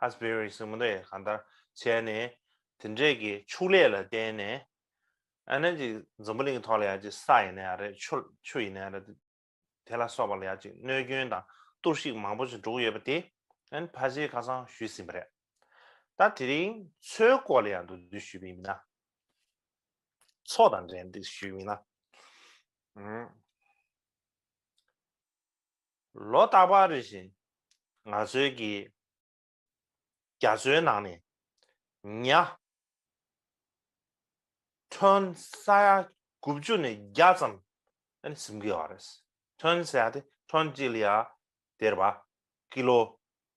ཨ་སྤེ་རི་སི་མོ་རེས་གང་ལྟར་བྱས་ནས་དེ་འདྲས་ཀྱི་ཕྱུགས་ལས་ལ་བརྟེན་ནས་ཨ་ནེ་ཅིག་འཛམ་བུ་གླིང་ཐོག་ལ་ཡང་ཅིག་ས་ཡིན་ན་ཡང་རེད་ཆུ་ཆུ་ཡིན་ན་ཡང་རེད་དེ་ལ་སོགས་པ་ལ་ཡང་ཅིག་གནོད་སྐྱོན་དང་གཏོར་བཤིག་མང་པོ་ཅིག་འགྲོ་གི་ཡོད་པ་དེ་ཨ་ནེ་ཕ་ཆེའི་ཁ་སང་ཞུས་ཟིན་པ་རེད། ད་དེ་རིང་ཚོའི་སྐོར་ལ་ཡང་འདུག་འདུག་ཞུས་པའི་མིན་ན། ཚོ་དང་འབྲེལ་འདུག་ཞུས་པའི་མིན་ན། ལོ་རྟག་པར་རེ་བཞིན་ང་ཚོའི་གི། རྒྱ་མཚོའི་ནང་ནས་ཉའ། ཐོན་ས་ཡ་དགུ་བཅུ་ནས་བརྒྱ་ཙམ་ཨེ་ཟིན་གི་ཡོད་རེད། ཐོན་ས་ཡ་དེ་ཐོན་གཅིག་ལ་ཡ་དེར་བ་ཀི་ལོ་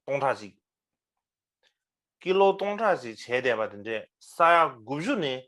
སྟོང་ཕྲག་གཅིག། ཀི་ལོ་སྟོང་ཕྲག་གཅིག་བྱས་བསྡད་པ་དེ་འདྲས་ས་ཡ་དགུ་བཅུ་ནས་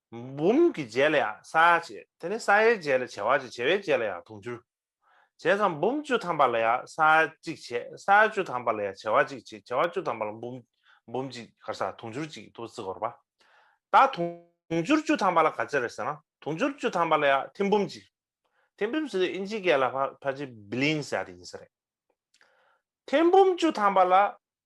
འབུམ་གྱི་རྗེས་ལ་ཡང་ས་ཡ་བྱེ། དེ་ནས་ས་ཡའི་རྗེས་ལ་བྱེ་བ་བྱེ་བྱེ་བའི་རྗེས་ལ་ཡང་དུང་ཕྱུར། བྱས་ཙང་འབུམ་བཅུ་ཐམ་པ་ལ་ཡང་ས་ཡ་གཅིག་བྱེ། ས་ཡ་བཅུ་ཐམ་པ་ལ་ཡང་བྱེ་བ་གཅིག་བྱེ་བྱེ་བ་བཅུ་ཐམ་པ་ལ་འབུམ། འབུམ་གཅིག་གར་ས་དུང་ཕྱུར་གཅིག་ཐུབ་བརྩི་གོར་པ། ད་དུང་ཕྱུར་བཅུ་ཐམ་པ་ལ་ག་ཚད་རེད་ཟེར་ན་དུང་ཕྱུར་བཅུ་ཐམ་པ་ལ་ཡང་ཐེམ་འབུམ་གཅིག། ཐེམ་འབུམ་ཟེར་དུས་ཨིན་ཇི་སྐད་ལ་བྷ་བྷ་ཇི་བྷི་ལིང་ས་ཡ་དེ་ཡིན་ས་རེད། ཐེམ་འབུམ་བཅུ་ཐམ་པ་ལ་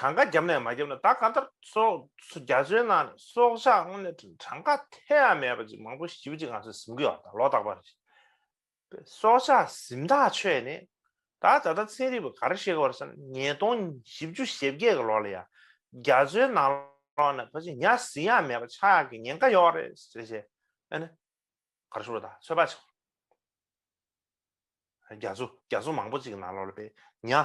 གྲངས་ཀ་བརྒྱབ་ནས་མ་བརྒྱབ་ན་ད་ག་ལྟར་སོགས་རྒྱ་མཚོའི་ནང་ནས་སྲོག་ཆགས་དངོས་གནས་གྲངས་ཀ་ཐེ་ཡང་མེད་པ་ཅིག་མང་པོ་ཞིབ་ཅིག་ང་ཚོས་གཟིམ་དགོས་བ་དང་ལོ་རྟག་པར་རེད། སྲོག་ཆགས་གཟིམ་ཐག་ཆོད་ནས་ད་ད་ལྟ་ཚན་རིག་པ་ག་རེ་བཤད་གི་བར་ས་ན་ཉིས་སྟོང་བཞི་བཅུ་ཞེ་བརྒྱད་གི་ལོ་ལ་ཡང་རྒྱ་མཚོའི་ནང་ལོགས་ནས་ཕ་ཅིང་ཉག་གཟིག་ཡང་མེད་པ་ཆགས་ཀྱི་ཉེན་ཁ་ཡོད་རེད་ཟེར་བཤད་ཨེ་ན། ག་རེ་ཞུ་བ་ད་ཚོད་དཔག་བྱེད་དགོས། རྒྱ་མཚོ་རྒྱ་མཚོ་མང་པོ་ཅིག་གི་ནང་ལོགས་ལ་པེ་ཉག།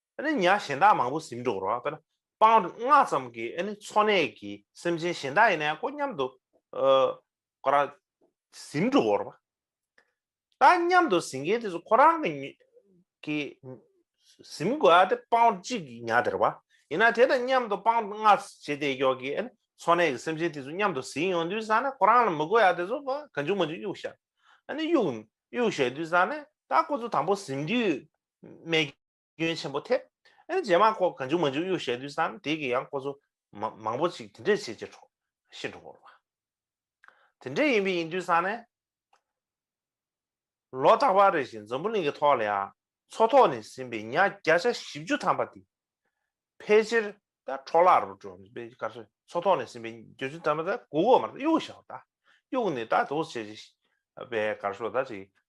ནི་ཉག་གཞན་དག་མང་པོ་ཟིམ་འགྲོ་རོ། སྤང་སྔགས་ཙམ་གྱི་འཚོ་གནས་ཀྱི་སེམས་ཅན་གཞན་དག་ཡིན་ན་ཡང་ཀོ་སྙམ་དུ། ཁོ་རང་ཟིམ་འགྲོ་བོར་བ། ད་སྙམ་དུ་ཟིན་མཁན་དེ་ཚོ་ཁོ་རང་གི། ཟིམ་དགོས་ཨ་དེ་སྤང་གཅིག་གི་ཉག་དེར་བ། ཡིན་ན་དེ་དང་མཉམ་དུ་སྤང་སྔགས་བྱེད་བདེ་མགྱོགས་ཀྱི་འཚོ་གནས་ཀྱི་སེམས་ཅན་དེ་ཚོ་མཉམ་དུ་ཟིན་ཡོང་དུས་བཟང་ན་ཁོ་རང་ལ་མི་དགོས་ཨ་དེ་ཚོ་གང་བྱུང་མ་བྱུང་གཡུག་བཞག། ཨ་ནི་གཡུག་གཡུག་བཞག་དུས་བཟང་ན་ད་ཁོ་ཚོ་དང་པོ་ཟིམ་དུས་རྨས་སྐྱོན་ཆེན་པོ་ཐེབས། རྗེས་མ་ཁོ་ག་འཇུག་མ་འཇུག་གཡུག་ཞལ་དུས་སམ་དེ་གི་ཡང་ཁོ་ཚོ་མང་པོ་ཅིག་དེ་འདྲས་བྱེད་ཀྱི་འགྲོ་ཤི་འགྲོ་བར། དེ་འདྲས་ཡིན་པའི་ཡིན་དུས་སང་ནས། ལོ་རྟག་པར་རེ་བཞིན་འཛམ་བུ་གླིང་གི་ཐོག་ལ་ཡང་མཚོ་ཐོག་ནས་ཟིན་པའི་ཉག་བརྒྱ་ཆ་བཞི་བཅུ་ཐམ་པ་དེ། ཕལ་ཆེར་ད་འཕྲོ་བརླག་རུ་འགྲོ་འདུག་པས་ག་ཚོད་མཚོ་ཐོག་ནས་ཟིན་པའི་བརྒྱད་བཅུ་ཐམ་པ་ད་གུག་གོ་མ་གཏོགས་གཡུག་ཞའོ་ད་གཡུག་ནས་ད་དུག་བྱེད་ཅིག་པས་ག་ཚོད་ད་ཅིག་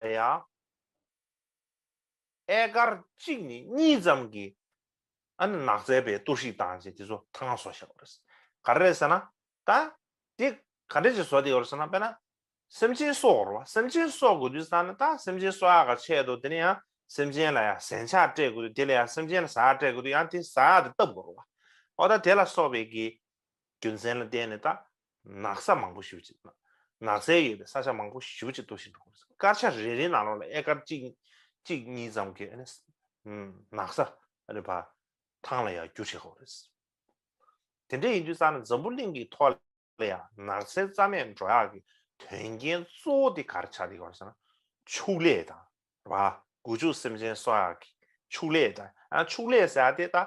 ཡང། ཨེ་དཀར་གཅིག་ནས་གཉིས་ཙམ་གྱི་ཨ་ནི་ནགས་ཚལ་པའི་གཏོར་བཤིག་བཏང་རྗེས་དེ་ཚོ་ཐང་ང་བཟོ་བཞག་པ་རེད། ག་རེ་རེད་ཟེར་ན། ད། དེ་ག་འདྲ་ཞིག་བཟོ་བསྡད་ཡོད་རེད་ཟེར་ན་དཔེར་ན། སེམས་ཅན་གསོ་དགོས་རེད་བ། སེམས་ཅན་གསོ་དགོས་དུས་ད་ནི་ད་སེམས་ཅན་གསོ་ཡག་ག་ཆད་འདུག་དེ་ནས་ཡང་སེམས་ཅན་ལ་ཡང་ཟན་ཆག་སྤྲད་དགོས་དུས་དེ་ལ་ཡང་སེམས་ཅན་ལ་ཟ་ཡག་སྤྲད་དགོས་དུས་ཡང་དེ་ཟ་ཡག་དེ་བཏབ་དགོས་རེད་བ། འོ་ད་དེ་ལ་སོགས་པའི་གི་རྒྱུ་མཚན་ལ་བརྟེན་ནས་ད་ནགས་ས་མང་པོ་བཞུར་ཅིག། ནགས་ཚལ་ཡོད་པའི་ས་ཆ་མང་པོ་བཞུར་ཅིག་གཏོར་ཞིང་འདུག་གོ། དཀར་ཆ་རེ་རེའི་ནང་ལོགས་ལ་ཨེ་ཀར་གཅིག། གཅིག་གཉིས་ཙམ་གྱི། ནགས་ས། རེད་པ། ཐང་ལ་ཡང་རྒྱུ་བྱེད་ཁོ། དེ་འདྲ་ཡིན་དུས་ཙང་ན་འཛམ་བུ་གླིང་གི་ཐོག་ལ་ཡང་ནགས་ཚལ་རྩ་མེད་འགྲོ་ཡག་གི་དོན་རྐྱེན་གཙོ་བོ་དེ་གར་ཆགས་དེ་ག་རེ་ཟེར་ན། ཕྱུགས་ལས་དང། རེད་པ། རྒུ་ཕྱུགས་སེམས་ཅན་གསོ་ཡག་གི་ཕྱུགས་ལས་དང། ཕྱུགས་ལས་ཟེར་ཡག་དེ་ད།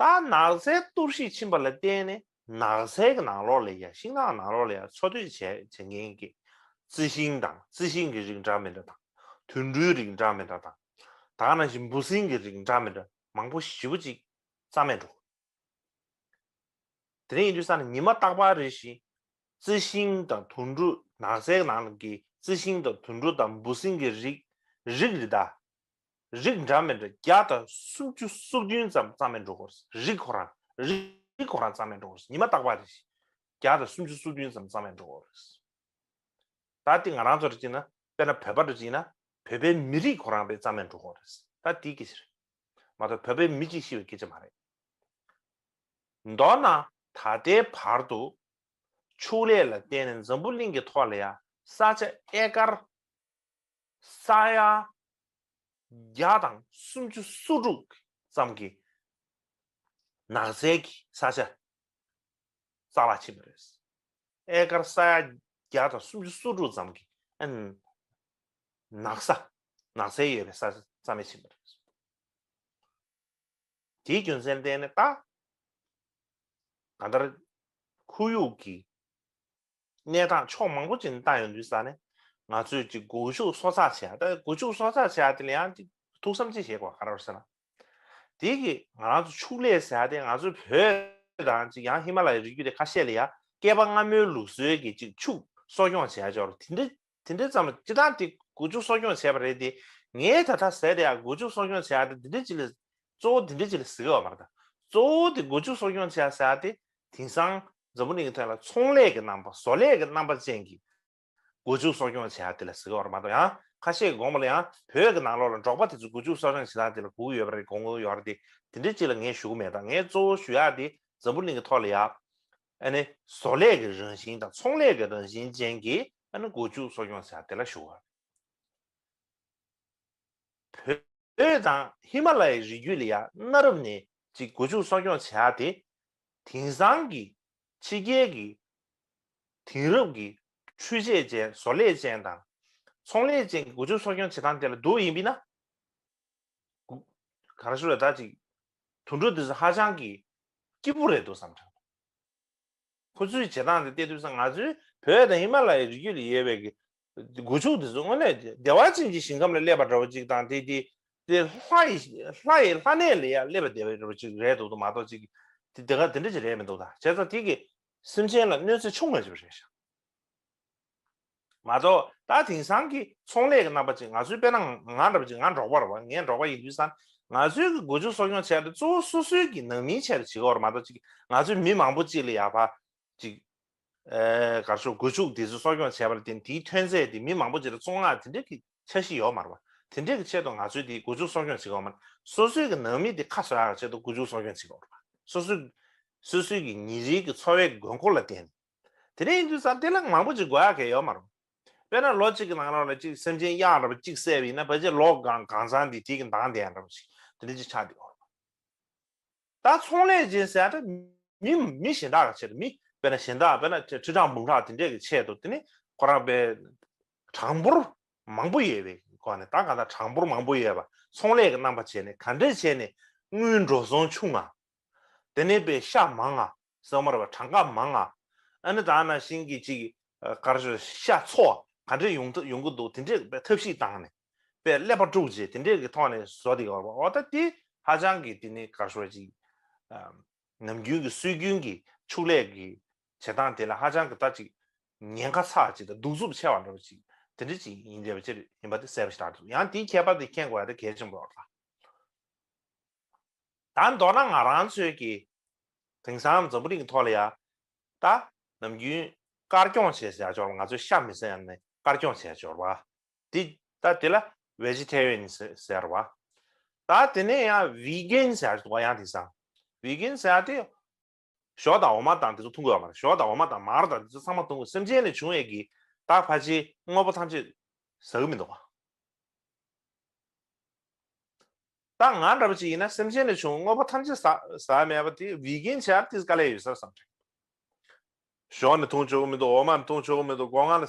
རྟ་ནགས་ཚལ་གཏོར་བཤིག་ཕྱིན་པ་ལ་བརྟེན་ནས་ནགས་ཚལ་གྱི་ནང་ལོགས་ལས་ཀྱང་ཤིང་ནགས་ནང་ལོགས་ལ་ཡང་འཚོ་སྡོད་བྱེད་མཁན་གྱི་རྩི་ཤིང་དང་རྩི་ཤིང་གི་རིགས་འདྲ་མི་འདྲ་དང་དུད་འགྲོའི་རིགས་འདྲ་མི་འདྲ་དང་དག་སྣ་བཞིན་འབུ་སྲིན་གྱི་རིགས་འདྲ་མི་འདྲ་མང་པོ་བཞི་བོ་ཅིག་རྩ་མེད་འགྲོ། དེ་ཡིན་དུས་ས་ནི་ཉི་མ་རྟག་པར་རེ་ཞིང་རྩི་ཤིང་དང་དུད་འགྲོ་ནགས་ཚལ་གྱི་ནང་གི་རྩི་ཤིང་དང་དུད་འགྲོ་དང་འབུ་སྲིན་གྱི་རིགས་རིགས་རི་དྭགས་རིགས་འདྲ་མི་འདྲ་བརྒྱ་དང་སུམ་བཅུ་སོ་བདུན་ཙམ་གཙང་མའི་འགྲོ་སྒོར་རིགས་ཁོ་རང་རིགས་ཁོ་རང་གཙང་མའི་འགྲོ་སྒོར་ཉི་མ་རྟག་པར་རེ་བརྒྱ་དང་སུམ་བཅུ་སོ་བདུན་ཙམ་གཙང་མའི་འགྲོ་སྒོར་ད་དེ་ང་རང་ཚོ་རེ་གཅིག་ན་དཔེར་ན་བོད་པ་རེ་གཅིག་ཡིན་ན་བོད་པའི་མི་རིགས་ཁོ་རང་རེ་གཙང་མའི་འགྲོ་སྒོར་རེད་ད་དེའི་སྐད་ཆ་རེད་མ་གཏོགས་བོད་པའི་མི་གཅིག་ཤི་བའི་སྐད་ཆ་མ་རེད། མདོར་ན་ད་ལྟའི་བར་དུ་ཕྱུགས་ལས་ལ་བརྟེན་ནས་འཛམ་བུ་གླིང་གི་ཐོག་ལ་ཡང་ས་ཆ་ཨེ་ཀར་ས་ཡ་བརྒྱ་དང་སུམ་ཅུ་སོ་དྲུག་ཙམ་གྱི་ནགས་ཚལ་གྱི་ས་ཆ་རྩ་བརླག་ཕྱིན་པ་རེད། ཨེ་ཀར་ས་ཡ་བརྒྱ་དང་སུམ་ཅུ་སོ་དྲུག་ཙམ་གྱི་ནགས་ས་ནགས་ཚལ་ཡོད་པའི་ས་ཆ་རྩ་མེད་ཕྱིན་པ་རེད། དེའི་རྒྱུ་མཚན་བལྟས་ནས་ད་ག་ལྟར་ཁོར་ཡུག་གི་གནས་སྟངས་ཕྱོགས་མང་པོ་ཅིག་ནས་བལྟ་ཡོང་དུས་ས་ནས་ང་ཚོས་ཅིག་སྒུལ་ཤུགས་གསོ་ཚགས་བྱས་ཡ་ད་སྒུལ་ཤུགས་གསོ་ཚགས་བྱས་ཡ་དེ་ལ་ཡང་ཅིག་ཐུགས་བསམ་ཅིག་བཞེས་དགོས་པ་ག་རེ་རེད་ཟེར་ན། དེ་གི་ང་རང་ཚོ་ཕྱུགས་ལས་ཟེར་ཡ་དེ་ང་ཚོའི་བོད་དང་ཅིག་ཡང་ཧི་མ་ལ་ཡའི་རི་རྒྱུད་དེ་ཁ་ཤས་ལ་ཡ་བསྐལ་པ་སྔ་མོའི་ལུགས་སྲོལ་གྱི་ཅིག་ཕྱུགས་གསོ་སྐྱོང་བྱས་ཡ་ཆོག་རེད་དེ་འདྲ་དེ་འདྲ་ཙམ་སྤྱི་བཏང་དེ་བསྒུལ་བཅུག་གསོ་སྐྱོང་བྱས་པ་རེད་དེ། ངས་ད་ལྟ་ཟས་དེ་ཡང་བསྒུལ་བཅུག་གསོ་སྐྱོང་བྱས་ཡག་དེ་འདི་འདྲའི་ཅི་ལས། གཙོ་བོ་དེ་འདྲའི་ཅི་ལས་ཟེར་གི་ཡོད་མ་རེད་ད། གཙོ་བོ་དེ་བསྒུལ་བཅུག་གསོ་སྐྱོང་བྱས་ཡག་ཟེར་ཡག་དེ། དེང་སང་འཛམ་བུ་གླིང་གི་ཐོན་ལ་ཚོང་ལས་ཀྱི་རྣམ་པ་བཟོ་ལས་ཀྱི་རྣམ་པ་ཅན་གྱི། བསྒུལ་བཅུག་གསོ་སྐྱོང་བྱས་ཡག་དེ་ལས་ཟེར་གི་ཡོད་རེད་མ་གཏོགས་ཡང་ཁ་ཤས་ཀྱི་དགོངས་པ་ལ་ཡང་བོད་ཀྱི་ནང་ལོགས་ལ་འབྲོག་པ་དེ་ཚོས་བསྒུལ་བཅུག་གསོ་སྐྱོང་བྱེད་སྟངས་དེ་ལ་གོ་གི་ཡོད་པ་རེད་དགོངས་ཀྱི་ཡོད་རེད་དེ། དེ་འདྲའི་ཅི་ལ་ངས་ཞུ་གི་མེད་ད་ངས་གཙོ་བོ་ཞུ་ཡག་དེ་འཛམ་བུ་གླིང་གི་ཐོག་ལ་ཡག། བཟོ་ལས་ཀྱི་རང་བཞིན་དང་ཚོང་ལས་ཀྱི་རང་བཞིན་ཅན་གྱི་སྒོ་ཕྱུགས་གསོ་སྐྱོང་བྱ་འདི་ལ་ཞུགས་པ། བོད་དང་ཧི་མ་ལ་ཡའི་རི་རྒྱུད་ལ་ཡ་གནའ་རབས་ནས་ཀྱི་སྒོ་ཕྱུགས་གསོ་སྐྱོང་བྱ་དེ་དེང་སང་གི་ཕྱི་རྒྱལ་གྱི་དེང་རབས་ཀྱི་འཕྲུལ་ཆས་ཅན་བཟོ་ལས་ཅན་དང་ཚོང་ལས་ཅན་གྱི་སྒོ་ཕྱུགས་གསོ་སྐྱོང་བྱེད་སྟངས་དེ་ལ་བསྡུར་ཡིན་པས་ན། ག་རེ་ཞུ་རེད་ད་ཅིག་དུད་འགྲོ་འདི་ཚོ་ཧ་ཅང་གི་སྐྱིད་པོ་རེད་འདུག་བསམ་དྲགས་འདུག་ཁོ་ཚོའི་བྱེད་སྟངས་དེ་བལྟས་དུས་ས་ང་ཚོའི་བོད་དང་ཧི་མ་ལ་ཡའི་རི་རྒྱུད་ལ་ཡོད་པའི་སྒོ་ཕྱུགས་དེ་ཚོ་དངོས་གནས་བདེ་བ་ཅན་གྱི་ཞིང་ཁམས་ལ་སླེབས་པ་འདྲ་བོ་ཅིག་དང་དེ་དེ་དེ་ལྷ་ཡི་ལྷ་ཡི་ལྷ་གནས་ལ་ཡང་སླེབས་པ་བདེ་བ་འདྲ་བོ་ཅིག་རེད་འདུག་ཏུ་མ་གཏོགས་ཅིག་དེ་དེ་ག་དེ་འདྲ་ཅིག་རེད་མི་འདུག་ད་བྱས་ཙང་དེ་གི་སེམས་ཅན་ལ་གནོད་འཚེ་ཆུང་མ་བྱས་པ་རེད་ཞག་མ་གཏོགས་ད་དེང་སང་གི་ཚོང་ལས་ཀྱི་རྣམ་པ་ཅིག་ང་ཚོའི་དཔེ་ན་ང་འདྲ་བ་ཅིག་ང་འབྲོག་པར་བ་ངས་འབྲོག་པ་ཡིན་དུས་སང་ང་ཚོའི་གི་སྒོ་ཕྱུགས་གསོ་སྐྱོང་བྱས་ཏེ་གཙོ་བོ་སོ་སོའི་གི་ནང་མིའི་ཆེད་དུ་བྱེད་དགོས་པ་མ་གཏོགས་ཅིག་ང་ཚོའི་མི་མང་པོ་ཅིག་ལ་ཡག་པ་ཅིག་གར་ཤོག་སྒོ་ཕྱུགས་འདི་ཚོ་གསོ་སྐྱོང་བྱས་པ་ལ་བརྟེན་དེའི་ཐོན་རྫས་དེ་མི་མང་པོ་ཅིག་ལ་བཙོང་སྔགས་དེ་འདྲའི་གི་ཆ་བཞི་ཡོད་མར་བ་དེ་འདྲའི་གི་ཆེད་དུ་ང་ཚོའི་དེ་སྒོ་ཕྱུགས་གསོ་སྐྱོང་བྱེད་དགོས་མར་སོ་སོའི་གི་ནང་མི་དེ་ཁ་བསོ་ཡག་ཆེད་དུ་སྒོ་ཕྱུགས་གསོ་སྐྱོང་བྱེད་དགོས་པར་བ་སོ་སོའི་གི་སོ་སོའི་གི་ཉིན་རེའི་གི་འཚོ་བའི་གི་དགོས་མཁོ་ལ་བརྟེན་ནས། དེ་རིང་དུས་སམ་དེ་ལ་མང་པོ་ཅིག་དགོས་ཡ་གལ་ཡོད་མ་རུང། དཔེར་ན་ལོ་གཅིག་གི་ནང་རང་ལ་གཅིག་སེམས་ཅན་གཡག་འདྲ་བ་གཅིག་བསད་པ་ཡིན་ན་ཕལ་ཆེར་ལོ་གང་གང་ཚང་དེ་དེ་གི་མདངས་ལྡན་འདྲ་བ་ཞིག་དེ་འདྲ་ཅིག་ཆགས་འདུག་ཨོ་ད་ཚོང་ལས་ཅན་ཟེར་ཡ་འདྲ་མི་མི་གཞན་དག་གི་ཆེད་དུ་མི་དཔེར་ན་གཞན་དག་དཔེར་ན་ཁྲི་ཕྲག་འབུམ་ཕྲག་དེ་འདྲས་ཀྱི་ཆེད་དུ་དེ་ནི་ཁོ་རང་དཔེ་གྲངས་འབོར་མང་པོ་ཡོད་པའི་སྒོ་ནས་ད་གང་ལྟར་གྲངས་འབོར་མང་པོ་ཡོད་པ་ཚོང་ལས་ཀྱི་རྣམ་པ་བྱས་ནས་ག་འདྲས་བྱས་ནས་དངུལ་འགྲོ་སོང་ཆུང་ང་དེ་ནས་དཔེ་ཤ་མང་ང་གསང་བར་བ་གྲངས་ཀ་མང་ང། ཨ་ནི་དག་ན་ཤིང་གི་ཅིག། དཀར་ཞོ་ཤ་མཚོ་བ་ག་འདྲེ་ཡོང་ཐུབ་ཡོང་གི་འདུག་དེ་འདྲེ་པའི་ཐབས་ཤིག་བཏང་ནས། པའི་ཀླད་པ་དཀྲུགས་རྗེས་དེ་འདྲེ་གི་ཐོག་ནས་ཟོ་དེ་གར་བ་འོ་ད་དེ་ཧ་ཅང་གི་དེ་ནི་དཀར་ཞོ་བ་ཅིག། ནམ་རྒྱུན་གི་སྲོལ་རྒྱུན་གི་ཕྱུགས་ལས་གི་བྱེད་སྟངས་དེ་ལ་ཧ་ཅང་གི་ད་ཅིག། ཉེན་ཁ་ཚགས་ཅིག་དང་གདུག་རྩུབ་ཆེ་བ་འདྲ་བ་ཅིག་དེ་འདྲེ་ཅིག་ཡིན་འདྲེ་བ་ཅིག་ཡིན་པ་དེ་གསལ་པོ་ཞིག་རྟགས་འདུག་ཡང་དེའི་ཁྱད་པར་དེ་མཁྱེན་དགོས་ཡ་དེ་གལ་ཆེན་པོ་རོགས་ལ། ད་མདོར་ན་ང་རང་ཚོས་ཀྱིས་དེང་སང་འཛམ་བུ་གླིང་གི་ཐོག་ལ་ཡང་ད་ནམ་རྒྱུན་དཀར་སྐྱོང་བྱེད་བྱ་སྦྱོར་བ་ང་ཚོའི་ཤ་མི་ཟ་ཡང་ནི་དཀར་སྐྱོང་བྱེད་སྦྱོར་བ་འདི་ད་དེ་ལ་བེ་ཇི་ཐེ་རིའན་ཟེར་བ་ད་དེ་ནས་ཡང་བི་གན་ཟེར་བ་ཡང་དེང་སང་བི་གན་ཟེར་བ་དེ་ཞོ་དང་འོ་མ་དང་དེ་ཚོ་འཐུང་དགོས་བ་མ་རེད་ཞོ་དང་འོ་མ་དང་མར་དང་དེ་ཚོ་ཚང་མ་འཐུང་དགོས་སེམས་ཅན་ནས་བྱུང་བའི་གི་དྭགས་ཕ་ཆེའི་དངོས་པོ་ཐམས་ཅད་ཟ་གི་མི་འདུག་ག་ད་ང་འདྲ་བ་ཅིག་ཡིན་ན་སེམས་ཅན་ནས་བྱུང་བའི་དངོས་པོ་ཐམས་ཅད་ཟ་ཟ་མེད་པ་དེ vegan བྱས་པ་དེ་དཀའ་ལས་ཡོད་སར་བསམ་ཞོ་ནི་འཐུང་ཆོག་གི་མི་འདུག་འོ་མ་ནི་འཐུང་ཆོག་གི་མི་འདུག་སྒོ་ང་ལ་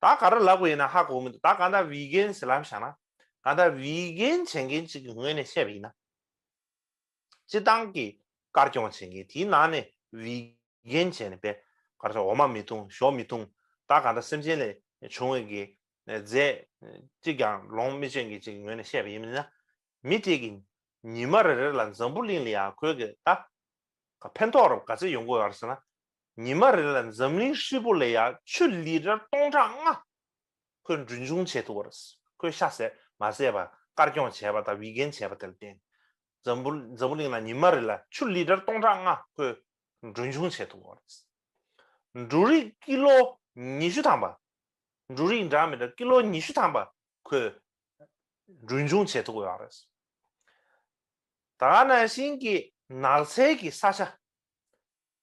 ད་ག་རེ་ལབ་དགོས་ཡིན་ན་ཧ་གོ་གི་མི་འདུག་ད་ག་ད་བི་གན་སི་ལམ་བཞག་ན་ག་ད་བི་གན་བྱེད་མཁན་གཅིག་གི་ངོས་ནས་བཤད་པ་ཡིན་ན། སྤྱི་བཏང་གི་དཀར་སྐྱོང་བྱེད་མཁན་དེའི་ནང་ནས་བི་གན་བྱས་ནས་པད་དཀར་ཚོ་འོ་མ་མི་འཐུང་ཞོ་མི་འཐུང་ད་ག་ད་སེམས་ཅན་ལས་བྱུང་བའི་དགེ་རྫས་གཅིག་ཀྱང་ལོངས་མི་སྤྱོད་མཁན་གཅིག་གི་ངོས་ནས་བཤད་པ་ཡིན་ན། མི་དེ་གི་ཉི་མ་རེ་རེ་ལ་འཛམ་བུ་གླིང་ལ་ཡང་གོས་གི་ད་ག་ཕན་ཐོག་རབ་ག་ཚད་ཡོང་གི་ཡོད་རེད་ཟེར་ན་ཉི་མ་རེ་ལ་འཛམ་གླིང་ཧྲིལ་པོ་ལས་ཡང་ཆུ་ལི་ར་སྟོང་ཕྲག་ལྔ་ཁོས་འབྲུ་འབྱུང་བྱེད་ཐུབ་པ་རེད། ཁོས་ཤ་ཟས་མ་ཟས་པ་དཀར་སྐྱོང་བྱས་པ་དང་བིག་གན་བྱས་པ་དེ་ལ་བརྟེན། འཛམ་བུ་འཛམ་བུ་གླིང་ན་ཉི་མ་རེ་ལ་ཆུ་ལི་ར་སྟོང་ཕྲག་ལྔ་ཁོས་འབྲུ་འབྱུང་བྱེད་ཐུབ་པ་རེད། འབྲུ་རིགས་ཀི་ལོ་ཉི་ཤུ་ཐམ་པ། འབྲུ་རིགས་འདྲ་མི་འདྲ་ཀི་ལོ་ཉི་ཤུ་ཐམ་པ་ཁོས་འབྲུ་འབྱུང་བྱེད་ཐུབ་པ་རེད། ད་ནང་བཞིན་གྱི་ནགས་ཚལ་གྱི་ས་ཆ།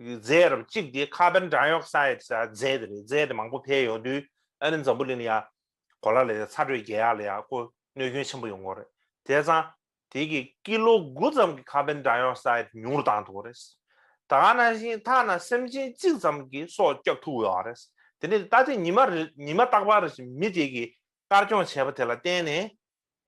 རྫས་རམ་གཅིག་དེ་ཁ་བན་སྒྲ་ཡོག་སའེ་རྫས་དེ་རེད་རྫས་དེ་མང་པོ་འཕེལ་ཡོང་དུས་ཨ་རིན་འཛམ་བུ་གླིང་ལ་ཡང་གོ་ལ་ལ་ཡང་ཚ་དྲོད་རྒྱལ་ཡག་ལ་ཡང་ཀོ་གནོད་སྐྱོན་ཆེན་པོ་ཡོང་གོ་རེད་དེ་ཚང་དེ་གི་ཀི་ལོ་དགུ་ཙམ་གི་ཁ་བན་སྒྲ་ཡོག་སའེ་ཉུང་རུ་བཏང་ཐུབ་གོ་རེད་ད་ག་ན་ཤིང་ཐག་ན་སེམས་ཅན་གཅིག་ཙམ་གི་སྲོག་སྐྱབས་ཐུབ་ཡོག་རེད་དེ་ནི་ད་ཐེངས་ཉི་མ་ཉི་མ་རྟག་པར་མི་དེ་གི་དཀར་སྐྱོང་བྱས་པ་དེ་ལ་བརྟེན་ནས་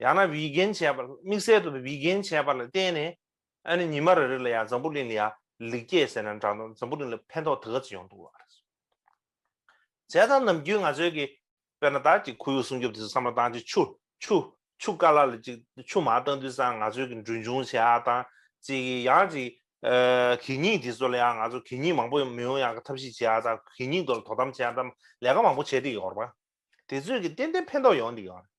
ཡང་ན་བིག་གན་བྱས་པ་དམིགས་བསལ་དུ་བིག་གན་བྱས་པ་ལ་བརྟེན་ནས་ཨ་ནི་ཉི་མ་རེ་རེ་ལ་ཡང་འཛམ་བུ་གླིང་ལ་ཡང་ལེགས་སྐྱེས་ཟེར་ན་འདྲ་འཛམ་བུ་གླིང་ལ་ཕན་ཐོགས་དེ་ག་ཚོད་ཡོང་འདུག་ཨ་རེད། བྱས་ཙང་ནམ་རྒྱུན་ང་ཚོའི་གི་དཔེར་ན་བདག་གི་ཁོར་ཡུག་སྲུང་སྐྱོབ་དེ་ཚོ་བསམ་བློ་བཏང་ཅིག་ཆུ་ཆུ་ཆུ་དཀར་ལ་ལ་ཅིག་ཆུ་མང་བཏང་དུས་ཙང་ང་ཚོའི་གི་འབྲུ་འབྱུང་བྱས་ཨ་དང་ཅིག་གི་ཡང་ཅིག་གད་སྙིགས་དེ་ཚོ་ལ་ཡང་ང་ཚོ་གད་སྙིགས་མང་པོ་མི་ཡོང་ཡང་གི་ཐབས་ཤིག་བྱས་ཨ་དང་གད་སྙིགས་དོར་ལ་དོ་དམ་བྱས་ཨ་དང་ལས་ཀ་མང་པོ་བྱས་འདི་ཡོང་རོགས་པ། དེ་ཚོས་གི་ཏན་ཏན་ཕན་ཐོགས་ཡོང་འདི་ཡོང་རེད།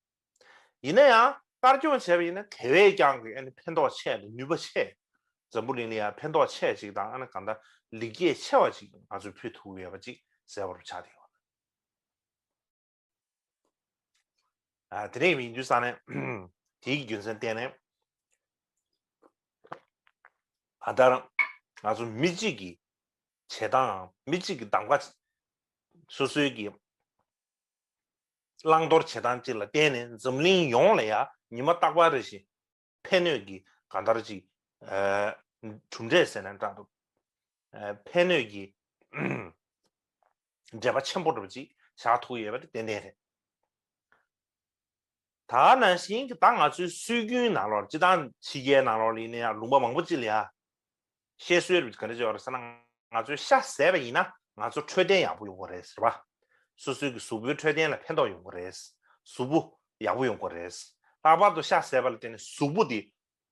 ཡིན་ན་ཡང་དཀར་སྐྱོང་བྱས་པ་ཡིན་ན་དེ་བས་ཀྱང་གི་ཨ་ནི་ཕན་ཐོགས་ཆེ་དང་ནུས་པ་ཆེ། འཛམ་བུ་གླིང་ལ་ཡང་ཕན་ཐོགས་ཆེ་ཅིག་དང་ཨ་ནི་གང་ལྟར་ལེགས་སྐྱེས་ཆེ་བ་ཅིག་ང་ཚོས་ཕུལ་ཐུག་ཡོད་པ་ཅིག་གསལ་བོར་ཆགས་བསྡད་ཡོད། དེ་ནས་མིག་མདུན་ས་ནས་དེའི་རྒྱུ་མཚན་བསྟན་ནས། ད་ལྟར་ང་ཚོ་མི་གཅིག་གིས་བྱེད་སྟངས་མི་གཅིག་གིས་གདམ་ག་སོ་སོའི་གི། བླང་དོར་བྱེད་སྟངས་གཅིག་ལ་བརྟེན་ནས་འཛམ་གླིང་ཡོངས་ལ་ཡང་ཉི་མ་རྟག་པར་རེ་ཞིང་ཕན་གནོད་ཀྱི་གང་ལྟར་གཅིག་གྲུབ་འབྲས་ཟེར་ན་འདྲ་འདུག་ཕན་གནོད་ཀྱི་འབྲེལ་པ་ཆེན་པོ་འགྲུབ་ཅིག་བཞག་ཐུག་ཡོད་པ་དེ་ཏན་ཏན་རེད། ད་ནང་བཞིན་གདའ་ང་ཚོའི་སྲོལ་རྒྱུན་ནང་ལོགས་སྤྱི་དང་ཕྱི་རྒྱལ་ནང་ལོགས་ལས་ནི་ཡང་ལུང་པ་མང་པོ་གཅིག་ལ་ཡང་བཤད་སྲོལ་རེད་ག་རེ་བྱས་པ་རེད་ཟེར་ན་ང་ཚོའི་ཤ་ཟས་པ་ཡིན་ན་ང་ཚོར་འཕྲོད་བསྟེན་ཡག་པོ་ཡོང་གི་རེད་ཟེར་བ། སོ་སོའི་གི་གཟུགས་པོའི་འཕྲོད་བསྟེན་ལ་ཕན་ཐོག་ཡོང་གི་རེད། གཟུགས་པོ་ཡག་པོ་ཡོང་གི་རེད། ལྷག་པར་དུ་ཤ་ཟས་པ་ལ་བརྟེན་ནས་གཟུགས་པོ་དེ་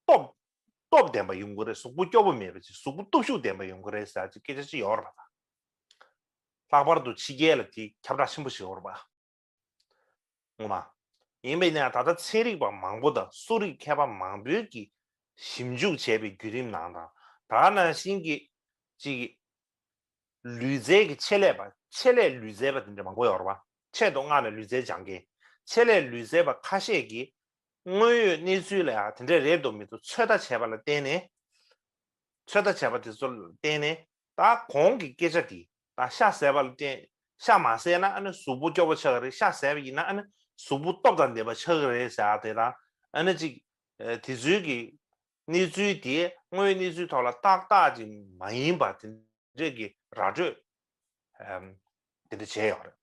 སྟོབས་སྟོབས་ལྡན་པ་ཡོང་གི་རེད་གཟུགས་པོ་སྐྱོ་པོ་མེད་པ་ཅིག་གཟུགས་པོ་སྟོབས་ཤུགས་ལྡན་པ་ཡོང་གི་རེད་ཟེར་བ་ཅིག་སྐད་ཆ་ཅིག་ཡོང་ར་བ་དང། ལྷག་པར་དུ་ཕྱི་རྒྱལ་ལ་དེ་ཁྱབ་བསྒྲགས་ཆེན་པོ་བྱས་འོང་ར་བ། ངོ་མ་ཡིན་པས་ན་ད་ལྟ་ཚན་རིག་པ་མང་པོ་དང་གསོ་རིག་མཁས་པ་མང་པོའི་གིས་ཞིབ་འཇུག་བྱས་པའི་བརྒྱུད་རིམ་ནང་དང་དག་ནང་བཞིན་གྱི་གཅིག་ལུས་རྩལ་གྱི་ཆེད་ལས་པ་ཆེད་ལས་ལུས་རྩལ་པ་དེ་འདྲ་མང་པོ་ཡོད་རེད་པ་ཆེད་དུ་མངགས་ནས་ལུས་རྩལ་སྦྱང་མཁན་ཆེད་ལས་ལུས་རྩལ་པ་ཁ་ཤས་ཀྱིས་དངོས་ཡོད་གནས་ཚུལ་ལ་དེ་འདྲ་རེད་དོ་མེད་དོ་ཚོད་ལྟ་བྱས་པ་ལ་བརྟེན་ནས་ཚོད་ལྟ་བྱས་པ་དེ་ཚོ་ལ་བརྟེན་ནས་ད་གོང་གི་སྐད་ཆ་དེ་ད་ཤ་བཟས་པ་ལ་བརྟེན་ཤ་མ་བཟས་ན་ཨ་ནི་གཟུགས་པོ་སྐྱོ་བོ་ཆགས་ཀྱི་རེད་ཤ་བཟས་པ་ཡིན་ན་ཨ་ནི་གཟུགས་པོ་སྟོབས་དང་ལྡན་པ་ཆགས་ཀྱི་རེད་ཟེར་དེ་དང་ཨ་ནི་གཅིག། དེ་ཚུལ་གྱི་གནས་ཚུལ་དེ་དངོས་གནས་ཚུལ་ཐོག་ལ་ཏག་ཏག་ཅིག་མ་ཡིན་པ་དེ་འདྲས་ཀྱི་ར་སྤྲོད་དེ་འདྲ་བྱས་ཡོད་རེད།